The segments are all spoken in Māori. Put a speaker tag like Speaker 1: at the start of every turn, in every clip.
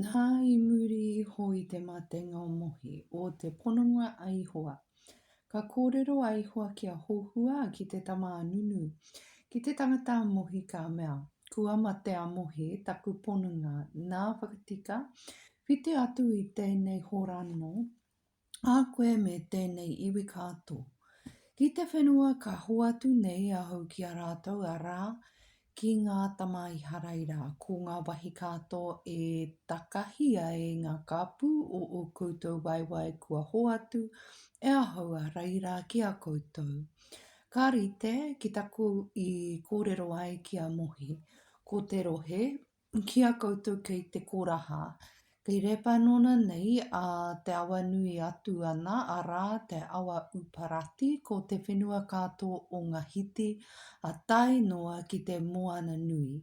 Speaker 1: Nā, i muri iho i te matenga o Mohi, o te pononga a Ihowa, ka kōrero a Ihowa ki a Hohua, ki te tama a Nunu, ki te tangata a Mohi, ka mea, Kua mate a Mohi, taku pononga, nā, whakatika, whiti atu i tēnei horano, A koe me tēnei iwi kātō. Ki te whenua ka hoatu nei ahau ki a rātou arā, ki ngā tama Iharaira, ko ngā wahi kātō e takahia e ngā kāpū o ō koutou waewae kua hoatu e ahau a reira ki a koutou. Ka rite ki taku i kōrero ai ki a Mohi, ko te rohe, Ki a koutou kei te koraha, kei Repanona nei a te awa nui atu ana, arā, te awa Uparati, ko te whenua katoa o nga hiti a tae noa ki te moana nui,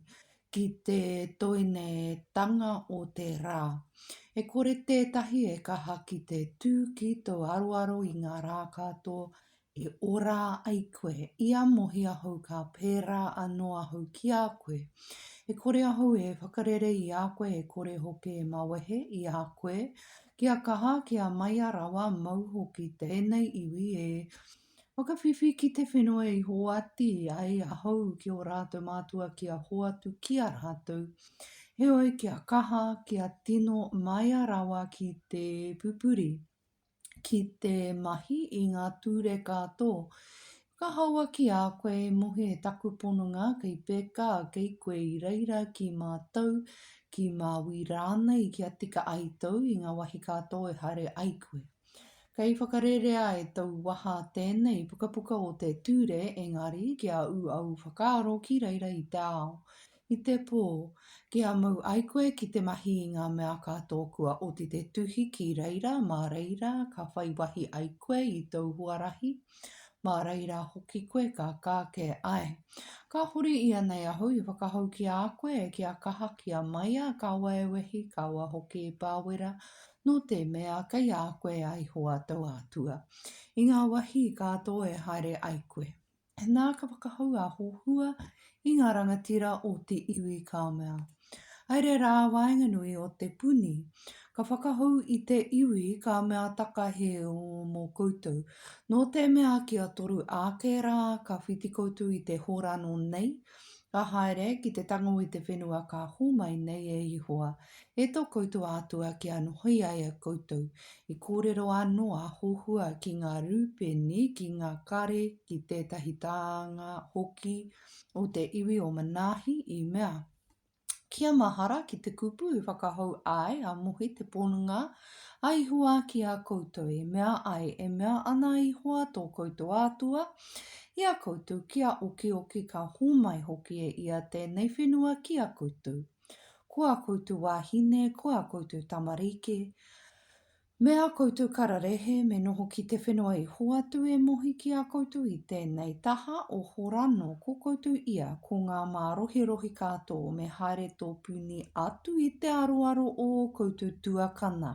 Speaker 1: ki te toinetanga o te ra. E kore tetahi e kaha ki te tu ki tou aroaro i nga ra katoa E ora ai koe, i a Mohi ahau ka pērā anō ahau ki a koe. E kore ahau e whakarere i a koe e kore hoki e mawehe i a koe, kia kaha, kia maia rawa mau hoki tēnei iwi e whakawhiwhi ki te whenua i hoati ai ahau ki o rātou mātua kia hoatu ki a rātou. Heoi kia kaha, kia tino maia rawa ki te pupuri. ki te mahi i ngā ture kato. Whakahaua ki a koe e mohi e taku pononga kei peka kei koe i reira ki mātou, ki Māui rānei kia tika ai tou i ngā wahi kato e haere ai koe. Kei whakarerea e tou waha tēnei pukapuka o te ture engari kia u au whakaaro ki reira i te ao. I te pō, kia mau ai koe ki te mahi i ngā mea kato kua oti te tuhi ki reira mā reira ka whai wahi ai koe i tōu huarahi, mā reira hoki koe ka kākē ai. Ka huri ianei ahau i whakahou ki a koe kia kaha kia maia ka waewehi ka wa hoki i Pāwera nō te mea kei a koe a Ihowa tōu Atua i ngā wahi kato e haere ai koe. nā ka whakahou a Hohua i ngā rangatira o te iwi Kaomea. Haere rā waenganui o te puni, ka whakahou i te iwi Kaomea takahe mō koutou. Nō te mea kia toru ake rā ka whiti koutou i te horano nei, Ka haere ki te tango i te whenua ka hōmai nei e Ihowa, e tō koutou Atua kia nohoi ai a koutou. I kōrero anō a Hohua ki ngā Rūpeni, ki ngā kare, ki tētahi tānga hoki o te iwi o Manahi, i mea. Kia mahara ki te kupu i whakahou ai a Mohi te ponunga a Ihowa ki a koutou, e mea ai, e mea ana a Ihowa tō koutou Atua, i a koutou kia okioki ka homai hoki e ia tēnei whenua ki a koutou. Ko a koutou wāhine, ko a koutou tamarike, Me a koutou kararehe me noho ki te whenua i hoatu e Mohi ki a koutou i tenei taha o Horano ko koutou ia ko nga marohirohi kato me haere topuni atu i te aroaro o o koutou tuakana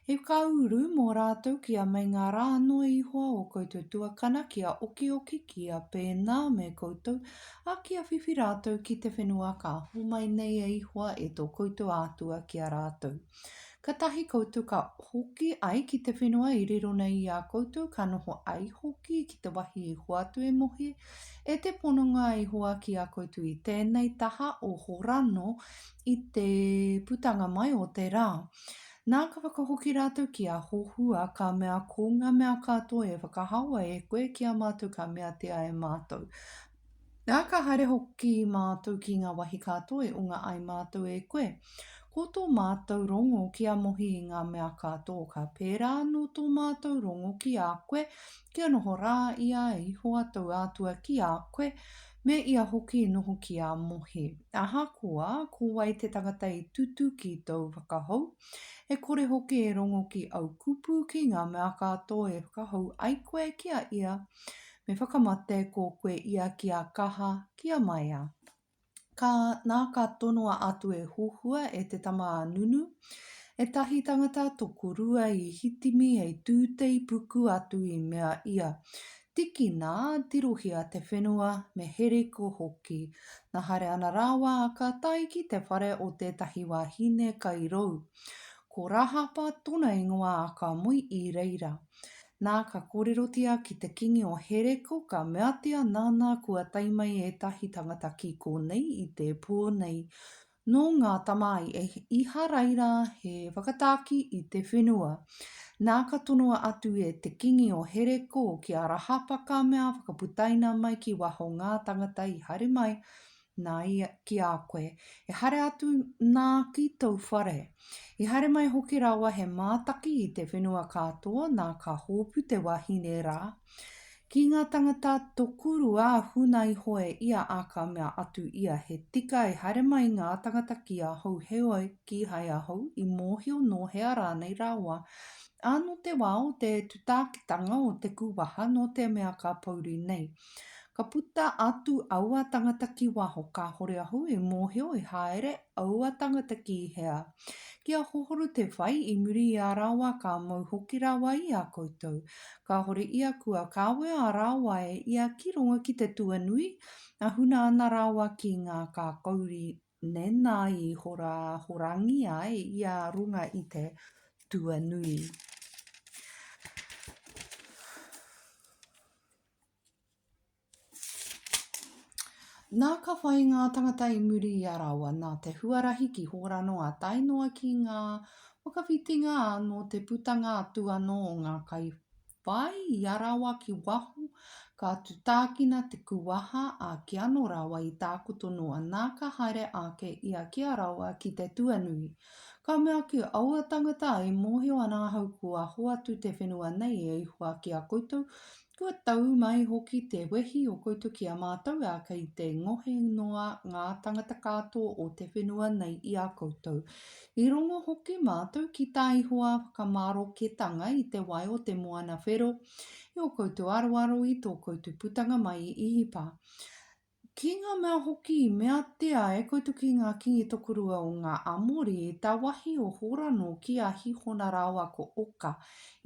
Speaker 1: he ka uru mo ratou ki a meinga ra noa ihoa o koutou tuakana ki a okioki ki a pena me koutou a ki a whiwhi ratou ki te whenua ka homai nei e ihoa e to koutou Atua ki a ratou. Katahi koutou ka hoki ai ki te whenua i riro nei i a koutou, ka noho ai hoki ki te wahi i hoatu e Mohi, e te pononga i hoa ki a koutou i tēnei taha o Horano i te putanga mai o te rā. Nā, ka whakahoki rātou ki a Hohua, ka mea, Ko ngā mea katoa e whakahaoa e koe ki a mātou ka meatia e mātou, Nā, ka haere hoki mātou ki ngā wahi ka toe o ngā ai mātou e koe. Ko tō mātou rongo kia mohi i ngā mea ka tō, ka pērā anō tō mātou rongo ki a koe, kia noho rā i a Ihowa tou Atua ki a koe, me ia hoki i noho ki a mohi. Ahakoa, ko wai te tangata i tutu ki tōu whakahou, e kore hoki e rongo ki au kupu ki ngā mea ka tō e whakahou ai koe ki a ia, Me whakamate ko koe ia ki a Kaha, ki a Maia. Ka, nā ka tonoa atu e Huhua, e te tama a Nunu, Ētahi tangata tokorua i hitimi hei tūtei puku atu i mea ia, Tikina, tirohia te whenua, me heriko hoki. Na haere ana rāua ka tae ki te whare o tētahi wāhine kai rou. Ko Rahapa tona ingoa a ka moe i reira. Nā, ka kōrerotia ki te kīngi o Hereko, ka meatia, Nānā, kua tae mai ētahi tangata ki kōnei i te pō nei, nō ngā tama a Īharaira, he whakatāki i te whenua. Nā, ka tonoa atu e te kīngi o Hereko ki a Rahapa, ka mea, Whakaputaina mai ki waho ngā tangata i haere mai, Nā ia ki a koe, ehara atu nā ki tou whare. I haere mai hoki rawa he mātaki i te whenua kātoa nā ka hōpu te wahine rā. Ki ngā tangata tokurua huna iho e ia a ka mea atu ia he tika e haere mai ngā tangata ki ahau heoi kīhai ahau i mōhio nō hea rānei rawa a nō te wā o te tutākitanga o te kūwaha nō te mea ka pouri nei Ka puta atu aua tangata ki waho, kāhore ahau i mōhio i haere aua tangata ki hea. Ki a Hohoru te whai, i muri i a rāua ka mau hoki rāua i a koutou. Kāhore ia kua kawea a rāua e ia ki runga ki te tuanui, a huna ana rāua ki ngā kākauri nēnā i horahorangi ai ia runga i te tuanui. Nā ka whai ngā tangata i muri i a rāua nā te huarahi ki hora noa tae noa ki ngā whakawhitinga nō te putanga atu anō o ngā kai whai i a rāua ki waho, ka tutākina te kuwaha a ki anō rāua i tākoto noa nā ka haere ake ia ki a rāua ki te tuanui. Ka mea ki aua tangata i mōhio ana ahau kua hoatu te whenua nei e Ihua ki a koutou, kua tau mai hoki te wehi o koutou ki a mātou, ā, kei te ngohe noa ngā tangata katoa o te whenua nei i a koutou. I rongo hoki mātou ki tā Ihua whakamaroketanga i te wai o te moana whero, i ō koutou aroaro i tō koutou putanga mai i Ihipa. Ki ngā mea hoki i meatia e koutou ki ngā kīngi tokorua o ngā Amori, tā wāhi o Horano ki a Hihona rāua ko Oka,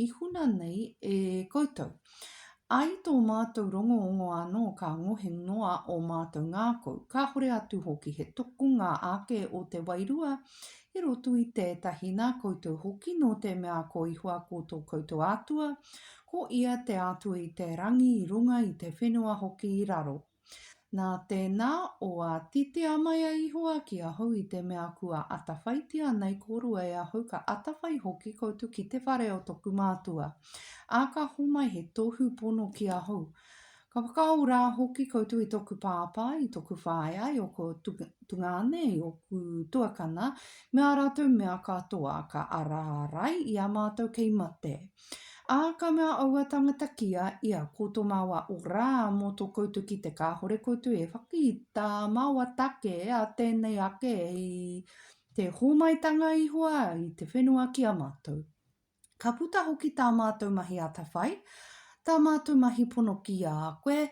Speaker 1: i huna nei e koutou. Ā, i tō mātou rongoongo anō ka ngohe noa ō mātou ngākau, kāhore atu hoki he tokonga ake o te Wairua i roto i tētahi nā koutou hoki nō te mea ko Ihua ko tō koutou Atua, Ko ia te atu i te rangi i runga i te whenua hoki i raro. Nā tēnā, o ātitia mai a Ihowa ki ahau i te mea kua atawhaitia nei korua e ahau ka atawhai hoki koutu ki te whare o toku mātua. Ā, ka homai he tohu pono ki ahau, Ka whakaaro rā hoki koutou i toku pāpā, i toku whaea, i ōku tungāne, i ōku tuakana, me ā rātou mea katoa, ka ara ārai i a mātou kei mate. Ā, ka mea aua tangata ki a ia, Ko tō māua ora mō tō koutou kite kāore koutou e whaki i tā māua take a tēnei ake hei te hōmaitanga iho ai i te whenua ki a mātou. Ka puta hoki tā mātou mahi atawhai, tā mātou mahi pono ki a koe,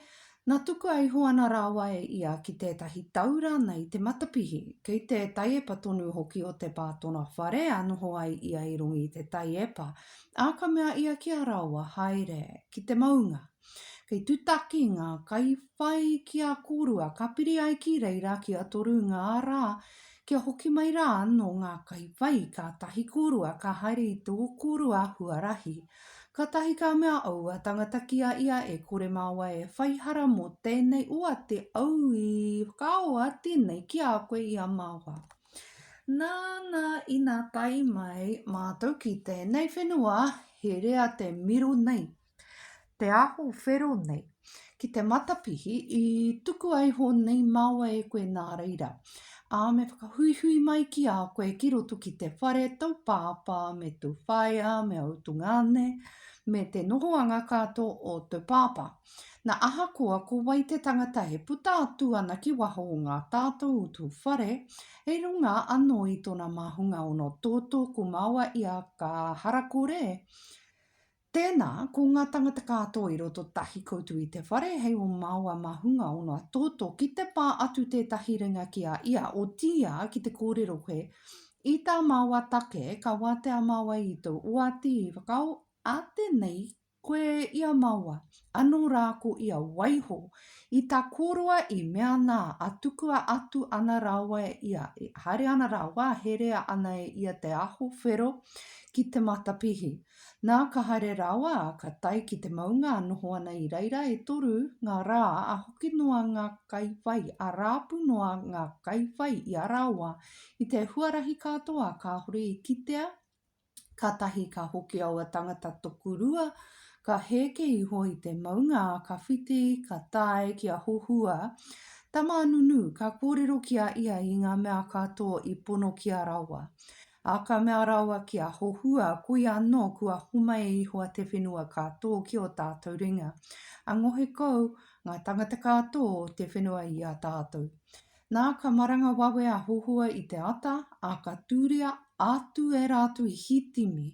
Speaker 1: nā tukua iho ana rāua e ia ki tētahi tau rānei te matapihi, kei te taiepa tonu hoki o te pātona whare a noho ai ia i runga i te taiepa, ā ka mea ia ki a rāua, Haere ki te maunga. Kei tutaki ngā kaiwhai ki a kōrua, ka piri ai ki reira ki a toru ngā rā, kia hoki mai rā anō ngā kaiwhai, kātahi kōrua ka haere i tō kōrua huarahi. Kātahi ka mea aua tangata ki a ia e kore māua e whai hara mō tēnei oa te au i whakaoa tēnei ki a koe i a māua. Nāna ina tae mai mātou ki tēnei whenua herea te miro nei. Te aho whero nei. Ki te matapihi, i tukua iho nei māua e koe nā reira. Ā, me whakahuihui mai ki a koe ki roto ki te whare tō pāpā me tō whaea me ō tungāne, me te nohoanga katoa o tō pāpā. Na ahakoa ko wai te tangata e puta atu ana ki waho o ngā tātou o tō whare, hei runga anō i tōna māhunga ono tōtō ko māua ia ka harakore, Tēnā, ko ngā tangata kātoa i roto tahi koutou i te whare, hei o māua mā hunga ono a Toto, ki te pā atu tētahi ringa ki a ia, otiia ki te kōrero koe, i tā māua take, ka wātea māua i tō oati i whakaō, ā tēnei koe i a māua, anō rā ko ia waiho i tā kōroa i mea nā, ā tukua atu ana rāua e ia, e haere ana rāua, herea ana e ia te aho whero ki te matapihi. Nā, ka haere rawa, ka tae ki te maunga a noho ana i reira e toru ngā rā a hoki noa ngā kaiwhai, a rāpu noa ngā kaiwhai i a rāua i te huarahi katoa kāore i kitea, kātahi ka hoki aua tangata tokorua, ka hēke iho i te maunga, ka whiti, ka tae ki a Hohua, tama a Nunu, ka kōrero ki a ia i ngā mea katoa i pono ki a rāua. Ā, ka mea rawa ki a Hohua, Koia anō, kua homai e Ihowa te whenua ka tō ki ō tātou ringa, ā, ngohe kau ngā tāngata ka tō te whenua i a tātou. Nā, ka maranga wawe a Hohua i te ata, ā, ka tūria atu e rātou i Hitimi,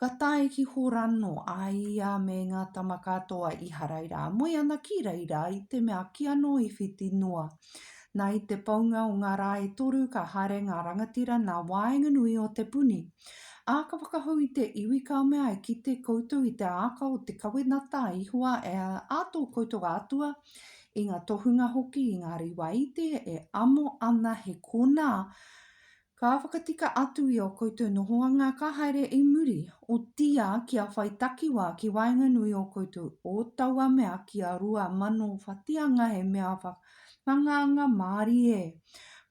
Speaker 1: ka tae ki Horano, a ia me ngā tama katoa Iharaira, moe ana ki reira, i te mea kīanō i whiti noa. Na i te paunga o nga ra e toru ka haere nga rangatira na waenganui o te puni. A ka whakahou i te iwi ka mea e kite koutou i te aaka o te kawenata a Ihowa e a to koutou Atua, i nga tohunga hoki i nga riwaite e amo ana he kona Ka whakatika atu i o koutou nohoanga ka haere i muri, otiia kia whai takiwa ki waenganui o koutou o taua mea ki a rua mano whatianga he mea wha, tangaanga mārie.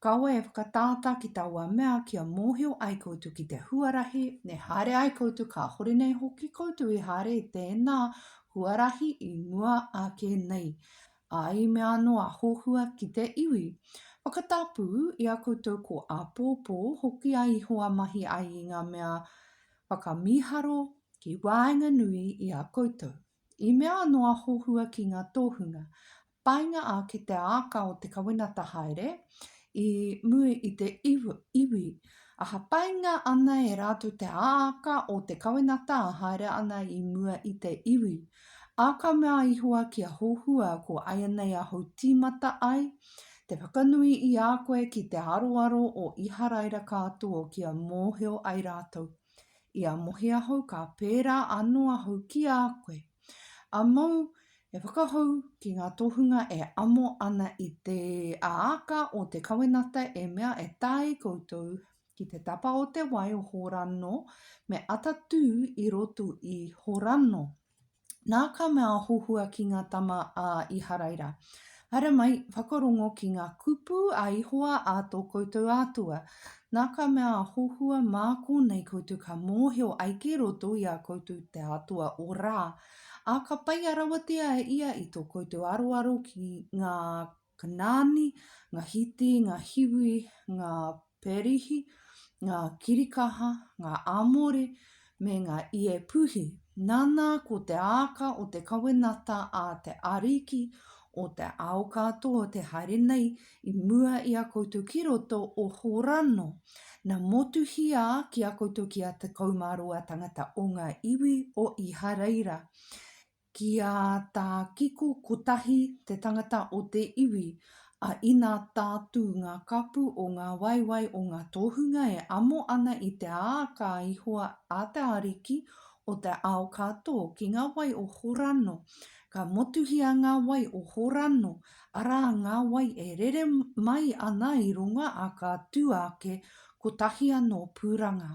Speaker 1: Kaua e whakatātā ki taua mea kia mōhio ai koutou ki te huarahi, e haere ai koutou kāhore nei hoki koutou i haere i tēnā huarahi i mua ake nei, Ā, i mea anō a Hohua ki te iwi, Whakatapū i a koutou ko āpōpō, hoki a Ihowa mahi ai i ngā mea whakamīharo ki waenganui i a koutou. I mea anō a Hohua ki ngā tōhunga, Painga ake te āka o te kawenata haere i mua i te iwi, ā, painga ana e rātou te āka o te kawenata ā haere ana i mua i te iwi, A ka mea a Ihowa ki a Hohua, Ko aianei ahou timata ai, te whakanui i a koe ki te aroaro o Iharaira kātoa kia mōhio ai rātou. I a mohi ahou ka pērā anō ahou ki a koe. A mou e whakahou ki ngā tohunga e amo ana i te āka o te kawenata e mea e tae koutou Ki te tapa o te wai o Horanno, me ata tū i roto i Horanno. Nā ka mea a Hohua ki ngā tama a Iharaira, Haere mai, whakarongo ki ngā kupu a Ihowa a tō koutou Atua. Nā ka mea a Hohua mā kōnei koutou ka mōhio ai ki roto i a koutou te Atua o Rā, ā, ka paia rawatia ia i tō koutou aroaro ki ngā Ka nani nga hiti, nga hiwi, nga perihi, nga kirikaha, nga amore, me nga iepuhi, nana ko te aaka o te kawenata a te Ariki o te ao katoa te haere nei i mua i a koutou ki roto o Horano, na motuhia ki a koutou ki a tekau ma roa tangata o nga iwi o Ihareira, Ki a Tā Kiko Kotahi te tangata o te iwi, a Ina Tātū ngā kapu o ngā waewae o ngā tohunga e amo ana i te ā ka ihoa a te Ariki o te ao ka tō ki ngā wai o Horano, ka motuhia ngā wai o Horano, arā ngā wai e rere mai ana i runga a ka tū ake kotahi anō pūranga.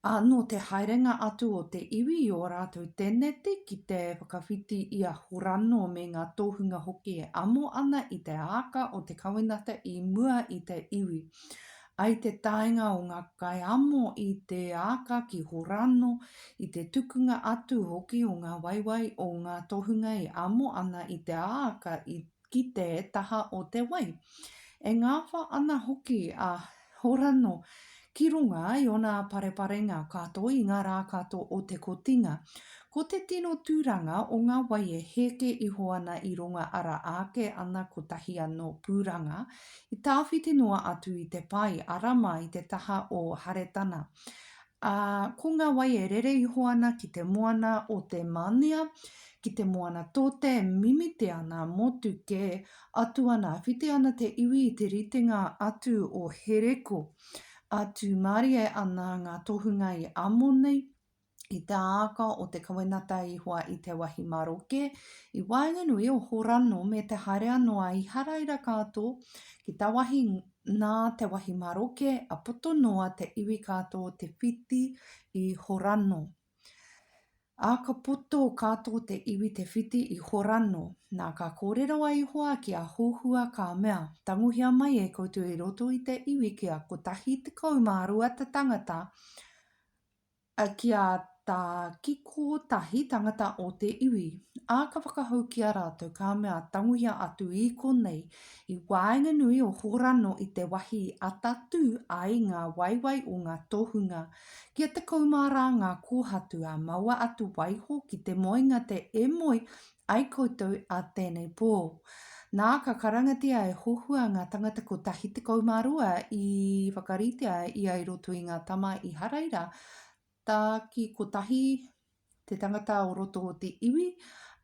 Speaker 1: Ā, nō te haerenga atu o te iwi i ō rātou tēneti ki te whakawhiti i a Horano me ngā tohunga hoki e amo ana i te āka o te kawenata i mua i te iwi. I te taenga o ngā kaiamo i te āka ki Horano, i te tukunga atu hoki o ngā waewae o ngā tohunga e amo ana i te āka i ki te taha o te wai. E ngawha ana hoki a Horano ki runga i ona pareparenga kato i nga ra kato o te kotinga. Ko te tino turanga o nga wai e heke iho ana i runga ara ake ana kotahi ano puranga i tawhiti noa atu i te pai ara mai te taha o Haretana. Ā, ko ngā wai e rere iho ana ki te moana o te Mānia, ki te moana tōte e mimite ana, motu kē, atu ana, whiti ana te iwi i te ritenga atu o Hereko, ā, tūmārie ana ngā tohunga i Amoni, i te āka o te kawenata i hoa i te wahi maroke, i waenganui o Horano me te haere anō a Iharaira ka tō ki tawahi Nā te wahi maroke a poto noa te iwi kātō te whiti i Horano. Ā, ka poto kātō te iwi te whiti i Horano. Nā, ka kōrero a Ihowa ki a Hohua ka mea, Tangohia mai e koutou i roto i te iwi kia kotahi tekau mā rua te tangata, Ki a ta, ki ko tahi tangata o te iwi, a ka whakahou ki a ratou, ka mea, Tanguhia atu i konei, i waenganui o Horano i te wahi i atatū ai nga waewae o nga tohunga, kia tekau ma ra nga kohatu, a maua atu waiho ki te moenga te e moe Ai koutou a tēnei pō. Nā, ka karangatia e Hohua ngā tangata kotahi tekau mā rua i whakaritea ia i roto i ngā tama i Haraira, tā ki kotahi te tangata o roto o te iwi,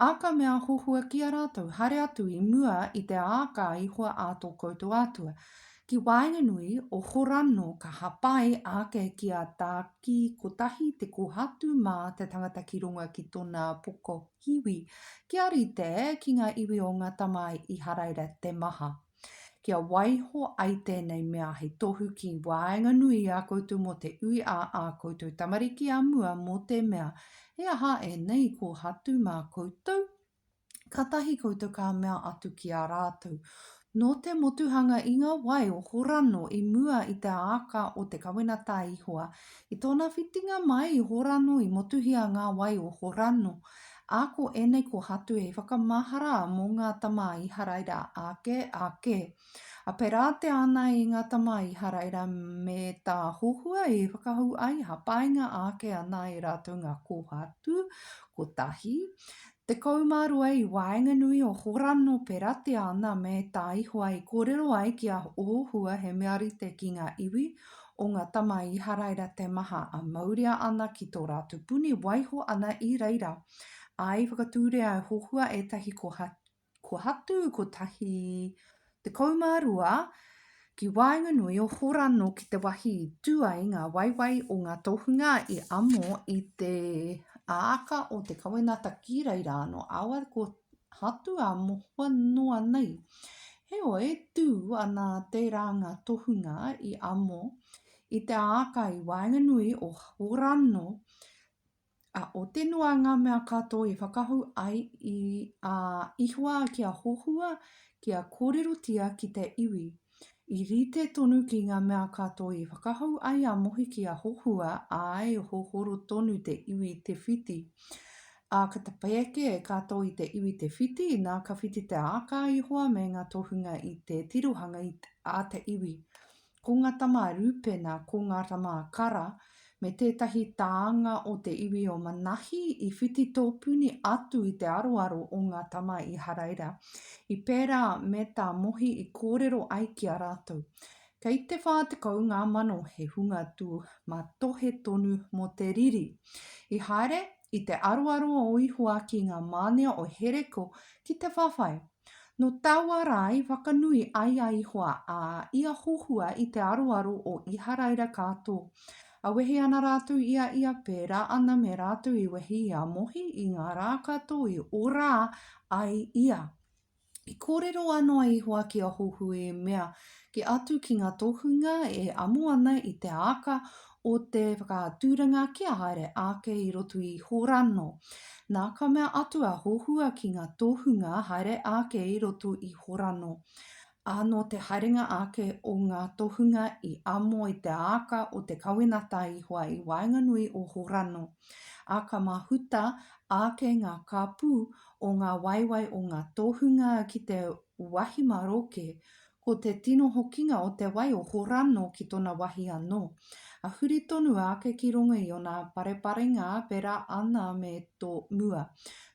Speaker 1: ā, ka mea a Hohua ki a rātou, Haere atu i mua i te āka a Ihowa ā tō koutou Atua, ki waenganui o Horano ka hapai ake ki a tā ki kotahi te kohatu mā te tangata ki runga ki tōnā poko. Hiwi, kia rite ki ngā iwi o ngā tamae Iharaira te maha. Kia waiho ai tēnei mea hei tohu ki waenganui i a koutou mō te ui a ā koutou tamariki a mua mō te mea, he aha ēnei kōhatu mā koutou? Kātahi koutou ka mea atu ki a rātou, Nō te motuhanga i ngā wai o Horano i mua i te āka o te kawenata a Ihoa, i tōna whitinga mai i Horano i motuhia ngā wai o Horano, ā, ko ēnei ko Hatu hei whakamahara mō ngā tama a Iharaira ake, ake. A pērā te ana i ngā tama a Iharaira me tā Hohua i whakahou ai, hapainga ake ana e rātou ngā kōhatu kotahi, 12 i waenganui o Horano peratia ana me Taihoa i korero ai ki a Ohua he mea rite ki nga iwi o nga tama Iharaira te maha a mauria ana ki to ratu puni waiho ana i reira a i whakaturea e Hohua etahi koha Ko Hatu 112 ki waenganui o Horano ki te wahi i tu ai nga waewae o nga tohunga i amo i te aaka o te kawenata ki reira ano awa ko Hatu a mohoa noa nei. Heoi, tu ana tera nga tohunga i amo i te aaka i waenganui o Horano A ote noa nga mea katoa i whakahu ai i a Ihoa ki a Hohua ki a korerotia ki te iwi. I rite tonu ki nga mea katoa i whakahu ai a Mohi ki a Hohua, ae, hohoro tonu te iwi te whiti. A ka tapae ake e katoa i te iwi te whiti, na ka whiti te aaka a Ihoa me nga tohunga i te tirohanga a te iwi. Ko ngā tama a Rūpena, ko ngā tama a Kara, me tētahi tānga o te iwi o Manahi i whiti tōpuni atu i te aroaro o ngā tama i Haraira, i pērā me tā Mohi i kōrero ai ki a rātou. Kei te whā tekau ngā mano he hunga tū matohe tonu mō te riri. I haere i te aroaro o Ihoaki ngā mānia o Hereko ki te whawhai Nō taua rā i whakanui ai a Ihoa, ā, i a Hohua i te aroaro o Iharaira ka tō. A wehi ana rātou i a ia pērā ana me rātou i wehi i a Mohi i ngā rā ka tō i ora ai ia. I kōrero anō a Ihoa ki a Hohu e mea, Kī atu ki ngā tohunga e amo ana i te āka o te whakaaturanga kia haere ake i roto i Horano. Nā ka mea atu a Hohua ki ngā tohunga haere ake i roto i Horano. Ā, nō te haerenga ake o ngā tohunga i amo i te āka o te kawenata i hoa i waenganui o Horano. Ā, ka mahuta ake ngā kāpū o ngā waewae o ngā tohunga ki te wahi maroke, Ko te tino hokinga o te wai o Horano ki tona wahi anō. A huri tonu ake ki rongo i ona pareparenga pera ana me to mua.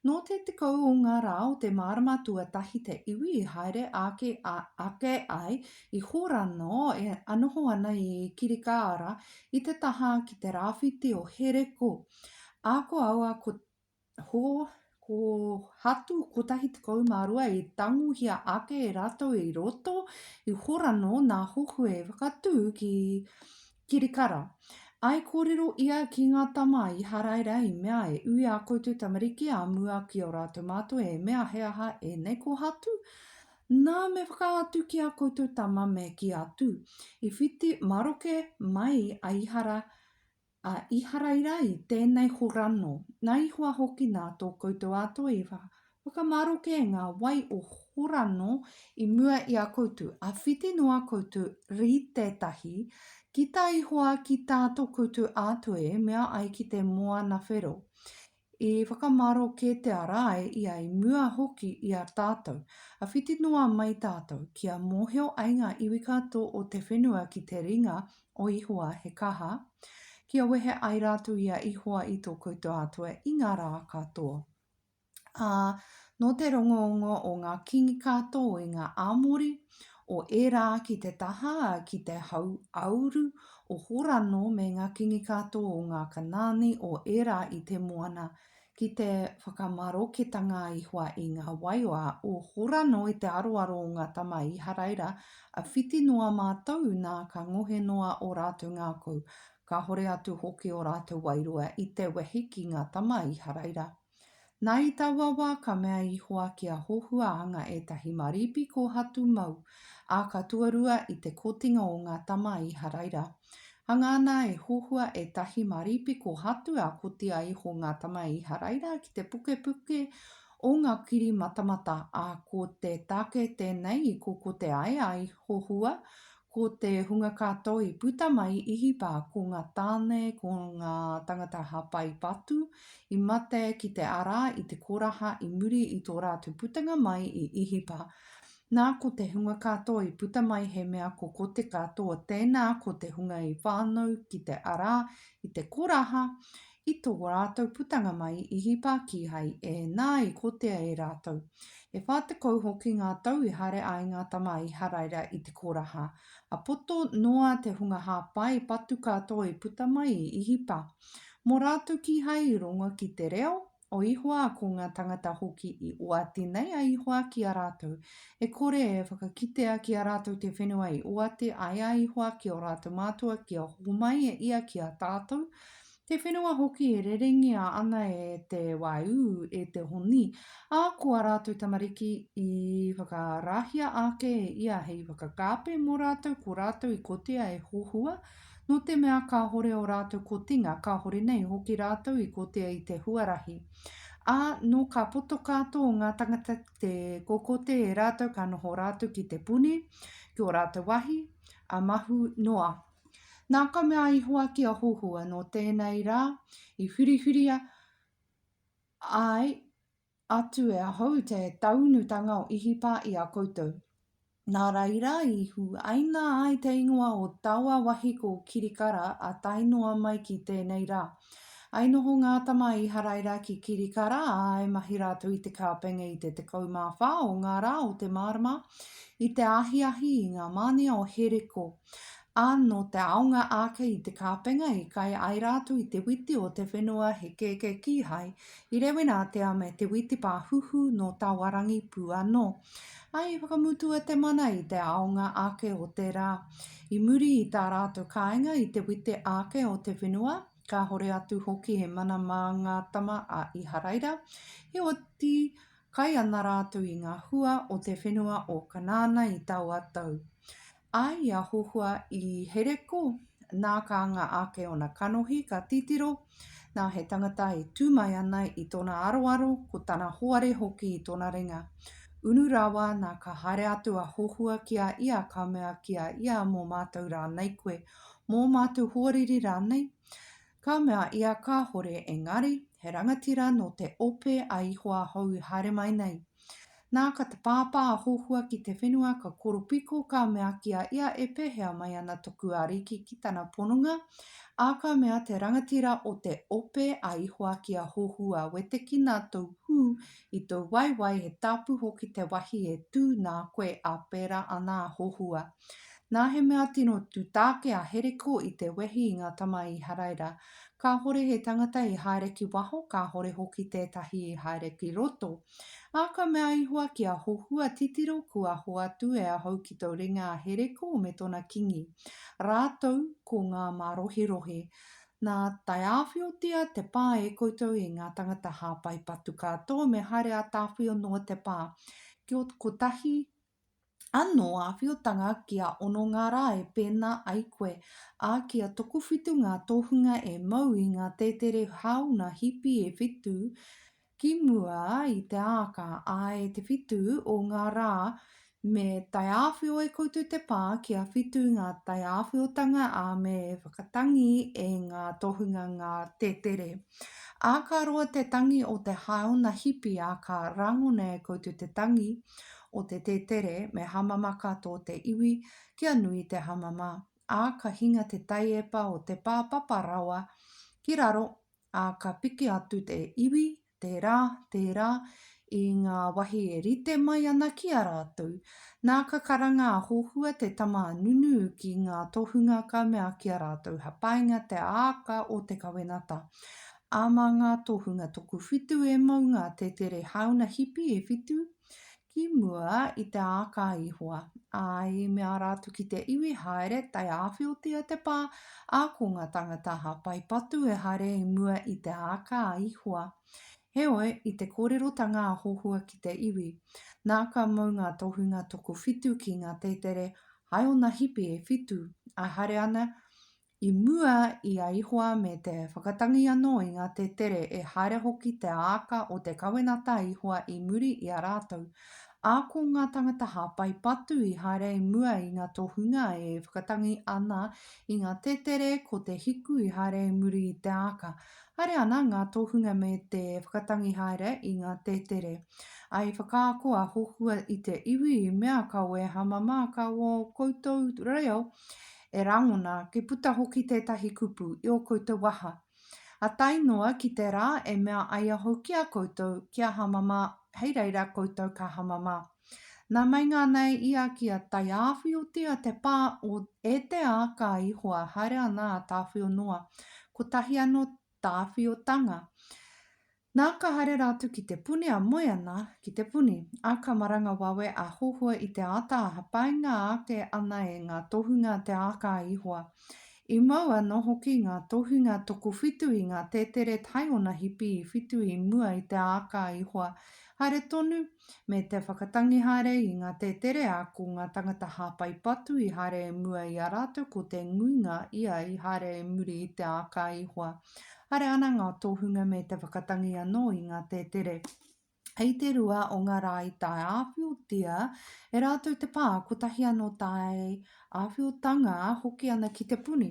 Speaker 1: Nō te tekau o ngā rā o te marama tuatahi te iwi i haere ake ake ai i Horano e noho ana i Kirikāara i te taha ki te rāwhiti o Hereko. Ako aua ko Ho, ko Hatu 112 i tangohia ake e ratou i roto i Horano na Hohue i whakatu ki Kirikara. I korero ia ki nga tama i Haraira i mea e ui a koutou tamariki a mua ki o ratou matou e mea he aha enei ko Hatu? Na me whakaatu ki a koutou tama me ki atu. I whiti maroke mai a Ihara A Iharaira i tēnei horano, na Ihowa hoki na tō koutou Atua i whakamaroke ngā wai o Horano i mua i a koutou, a whiti noa koutou ri tētahi, ki tā Ihowa ki tā tō koutou Atua e mea ai ki te Moana whero. I whakamaro kē te ara ai ia i mua hoki i a tātou. A whiti noa mai tātou, kia mōhio ai ngā iwi katoa o te whenua ki te ringa o Ihowa he kaha, kia wehe ai rātou i a Ihowa i tō koutou Atua i ngā rā katoa. Ā, nō te rongongo o ngā kīngi katoa i ngā Amori, o ērā ki te taha ki te hau āuru o Horano me ngā kīngi katoa o ngā Kanaani o ērā i te moana, ki te whakamaroketanga i hua i ngā waioa o Horano i te aroaro o ngā tama Īharaira, a whiti noa mātou nā ka ngohe noa ō rātou ngākau, kāhore atu hoki ō rātou wairua i te wehi ki ngā tama Īharaira. Nā i taua wā ka mea ihoa ki a Hohua anga ētahi maripi kōhatu mau, ā, ka tuarua i te kotinga o ngā tama a Īharaira. Hanga ana e Hohua ētahi maripi kōhatu ā kotia iho ngā tama a Īharaira ki te pukepuke o ngā kiri matamata, ā, ko te tāke tēnei i kokote ai a Hohua, Ko te hunga katoa i puta mai i Hipa, ko nga tane, ko nga tangata hapai patu, i mate ki te ara i te koraha i muri i to ratu putenga mai i Ihipa. Na, ko te hunga katoa i puta mai he mea ko ko te katoa tena ko te hunga i whanau ki te ara i te koraha I tō rātou putanga mai i hipa kīhai ēnā i kotea e rātou. E whā tekau hoki ngā tau i haere ai ngā tama i Haraira i te koraha, a poto noa te hunga hāpai patu katoa i puta mai i Ihipa. Mō rātou kīhai i rongo ki te reo o Ihowa ko ngā tangata hoki i oati nei a Ihowa ki a rātou, e kore e whakakitea ki a rātou te whenua i oati ai a Ihowa ki ō rātou mātua kia homai e ia ki a tātou, Te whenua hoki e rerengia ana e te waiū, e te honi, ā, ko ā rātou tamariki i whakarahia ake e ia hei whakakāpe mō rātou, ko rātou i kotia e hohua, nō te mea kāhore ō rātou kotinga, kāhore nei hoki rātou i kotia i te huarahi. Ā, nō ka poto kātō ngā tangata ki te kokote e rātou ka noho rātou ki te puni, ki ō rātou wāhi, ā, mahu noa. Nā ka mea a Ihowa ki a Hohua, Nō tēnei rā i hurihuria ai atu e ahau te taunutanga o Ihipa i a koutou. Nā reira i huaina ai te ingoa o taua wahi ko Kirikara a tae noa mai ki tēnei rā. I noho ngā tama a Iharaira ki Kirikara, ā, i mahi rātou i te kāpenga i te tekau mā whā o ngā rā o te mārama, i te ahiahi i ngā mānia o Heriko. Ā, nō te aonga ake i te kāpenga i kai ai rātou i te witi o te whenua he kēkē kīhai, i Rewenātea me te witi pāhuhu nō Tawarangi pū anō. Ā, i whakamutua te mana i te aonga ake o te rā. I muri i tā rātou kāinga i te witi ake o te whenua, kāhore atu hoki he mana mā ngā tama a Iharaira, heoti, kai ana rātou i ngā hua o te whenua o Kanaana i taua tau. A i a Hohua i Hereko, nā ka anga ake ona kanohi, ka titiro, nā he tangata e tū mai ana i tōna aroaro, ko tana hoare hoki i tōna ringa. Unu rawa, nā ka haere atu a Hohua ki a ia, ka mea ki a ia, Mō mātou rānei koe? Mō mātou hoariri rānei? Ka mea ia Kāhore engari he rangatira nō te ope a Ihoa hou i haere mai nei. Nā ka te pāpā a Hohua ki te whenua ka koropiko ka mea ki a ia e pēhea mai ana toku ariki ki tana pononga, ā ka mea te rangatira o te ope a Ihoa ki a Hohua wetekina tou hū i tou waewae he tāpu hoki te wahi e tū nā koe ā pērā ana a Hohua. Nā he mea tino tūtāke a Hereko i te wehi i ngā tama Īharaira. Kāhore he tangata i haere ki waho, kāhore hoki tētahi i haere ki roto. Ā, ka mea Ihoa ki a Hohua, Titiro, kua hoatu e ahau ki tō ringa a Hereko me tōna kīngi, rātou ko ngā mārohirohi. Nā, tae āwhiotia te pā e koutou i ngā tangata hāpai patu katoa me haere ā-tāwhio noa te pā, ki ō kotahi Anō āwhiotanga kia ono ngā rā e pēnā ai koe, ā, kia tokowhitu ngā tohunga e mau i ngā tētere hāuna hipi e whitu ki mua i te āka, ā, e te whitu o ngā rā me taiāwhio e koutou te pā kia whitu ngā taiāwhiotanga, ā, me whakatangi e ngā tohunga ngā tētere. Ā, ka roa te tangi o te hāuna hipi ā ka rangona e koutou te tangi o te tētere me hamama katoa te iwi kia nui te hamama, ā, ka hinga te taiepa o te pā papa rawa ki raro, ā, ka piki atu te iwi, tērā, tērā, i ngā wahi e rite mai ana ki a rātou, nā ka karanga a Hohua te tama a Nunu ki ngā tohunga ka mea ki a rātou ha painga te aaka o te kawenata, a ma ngā tohunga toku whitu e mau ngā tetere hauna hipi e whitu, ki mua i te aaka a Ihowa, a i mea rātou ki te iwi haere tae awhiotia te pa, a ko nga tangata ha pai patu e haere i mua i te aaka a Ihowa, Heoi, i te kōrerotanga a Hohua ki te iwi, nā ka mau ngā tohunga tokowhitu ki ngā tētere hai ōna hipi e whitu, ā, haere ana i mua i a Ihoa me te whakatangi anō i ngā tētere e haere hoki te āka o te kawenata a Ihoa i muri i a rātou, ā, ko ngā tāngata hāpai patu i haere i mua i ngā tohunga e whakatangi ana i ngā tētere ko te hiku i haere i muri i te āka, Haere ana ngā tohunga me te whakatangi haere i ngā tētere. I whakaako a Hohua i te iwi i mea ka wē hamama ka wō koutou reo e rangona ki puta hoki tētahi kupu i o koutou waha. A tae noa ki te rā e mea ai ahau ki a koutou kia hamama hei reira koutou ka hamama. Nā meinga nei ia ki a Taiāwhiotia te pā o e te āka i hoa haere ana a Tāwhionoa, kotahi anō Tāwhiotanga. Nā ka haere rātou ki Te Puni a moe ana ki Te Puni, ā, ka maranga wawe a Hohoe i te āta hapainga ake ana e ngā tohunga te āka i hoa. I mau anō hoki ngā tohunga tokowhitu i ngā tēteret hai ōna hipi i whitu i mua i te āka i hoa haere tonu, me te whakatangi haere i ngā tēterea ko ngā tangata hāpai patu i haere e mua i a rātou ko te nguinga ia i haere e muri i te āka i hoa. Haere ana ngā tohunga me te whakatangi anō i ngā tētere. Hei te rua o ngā rā i tae āwhiotia e rātou te pā, kotahi anō tae āwhiotanga hoki ana ki te puni.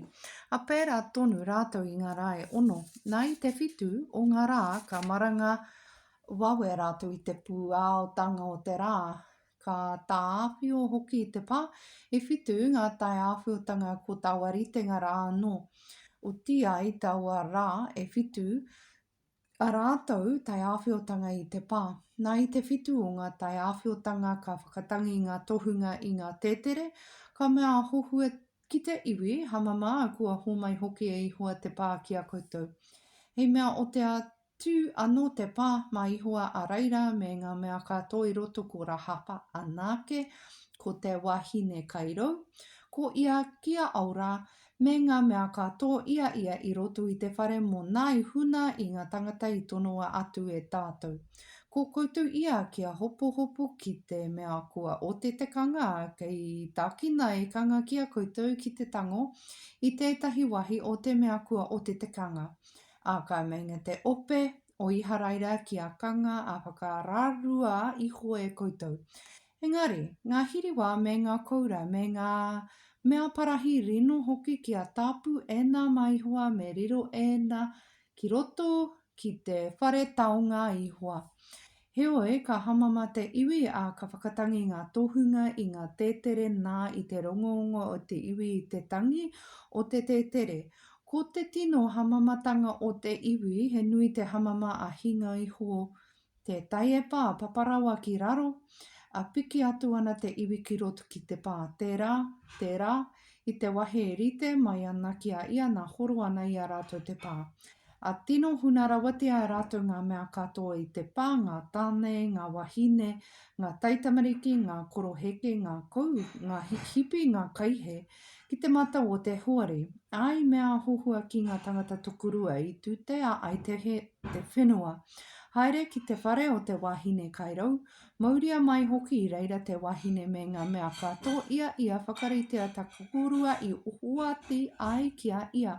Speaker 1: A pērā tonu rātou i ngā rā e ono. Nā i te whitu o ngā rā ka maranga Wawe rātou i te pūaotanga o te rā. Ka tāwhiao hoki i te pā, e whitu ngā taiāwhiotanga ko taua ritenga rā anō. Otiia i taua rā e whitu a rātou taiāwhiotanga i te pā. Nā i te whitu o ngā taiāwhiotanga ka whakatangi ngā tohunga i ngā tētere, ka mea a Hohua ki te iwi, Hamama, kua hōmai hoki e Ihoa te pā ki a koutou. He mea o te Tū anō te pā mā Ihowa a reira me ngā mea ka tō i roto ko Rahapa anake, ko te wahine kai rou, ko ia ki a Aora, me ngā mea ka tō i a ia i roto i te whare mō nā i huna i ngā tangata i tonoa atu e tātou. Ko koutou ia kia hopohopo ki te mea kua ote te kanga kei tākina e kanga ki a koutou ki te tango i tētahi wahi o te mea kua ote te kanga, Ākau meinga te ope o Iharaira ki a Kanga a whakararua iho e koutou. Engari, ngā hiriwa me ngā koura me ngā mea parahi rino hoki ki a Tapu ēnā mā Ihowa me riro ēnā ki roto ki te whare taonga a Ihowa. Heoi, ka hamama te iwi, ā, ka whakatangi ngā tohunga i ngā tētere nā i te rongoongo o te iwi i te tangi o te tētere. Ko te tino hamamatanga o te iwi, he nui te hamama a hinga iho te taiepa, a papa rawa ki raro, ā, piki atu ana te iwi ki roto ki te pā. Tērā, tērā, I te wahi e rite mai ana ki a ia na horo ana i a ratou te pa. A tino huna rawatia e ratou nga mea katoa i te pa, nga tane, nga wahine, nga taitamariki, nga koroheke, nga kou, nga hikipi, nga kaihe, ki te matau o te hoari. A i mea a Hohua ki nga tangata tokorua i tutea ai te whenua, Haere ki te whare o te wahine kai rau, Mauria mai hoki i reira te wahine me nga mea ka to ia ia whakaritea ta kukurua i ohoati ai ki a ia.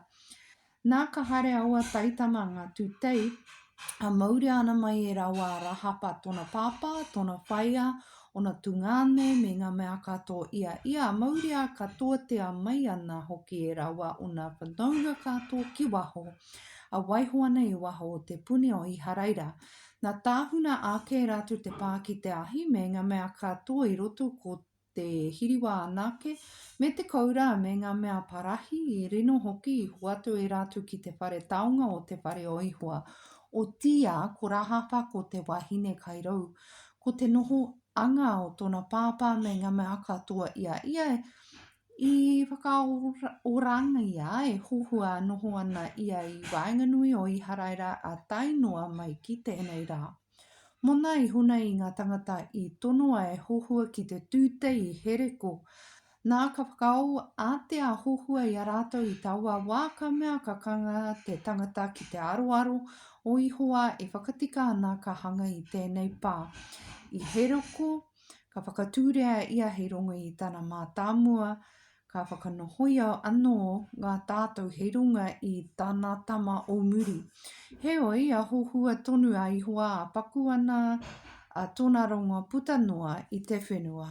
Speaker 1: Na ka haere aua taitama nga tutei a mauria ana mai e rawa a Rahapa tona papa, tona whaea, ona tungane me nga mea ka to ia ia a mauria ka toatea mai ana hoki e rawa ona whanaunga ka to ki waho a waiho ana i waho o te puni o Iharaira. Na tahuna ake ratu te pa ki te ahi me nga mea katoa i roto ko te hiriwa anake me te koura me nga mea parahi i rino hoki i hoatu e ratu ki te whare taonga o te whare o Ihowa. Otia ko Rahapa ko te wahine kai rou ko te noho anga o tona papa me nga mea katoa ia ia e I whakaorangia e Hohua noho ana ia i waenganui o Iharaira a Tainoa mai ki tēnei rā. Mona iho nei i ngā tangata i tonoa e Hohua ki te tūtei i Hereko. Nā ka whakaō ātea a Hohua i a rātou i taua wā ka mea ka kanga te tangata ki te aroaro o Ihowa e whakatika ana ka hanga i tēnei pā, i Hereko Ka whakatūria ia hei rongo i tana mātāmua, ka whakanohoia anō ngā tātou hei runga i tana tama o muri. Heoi, a hohua tonu a Ihowa, a paku ana a tona rongo puta noa i te whenua.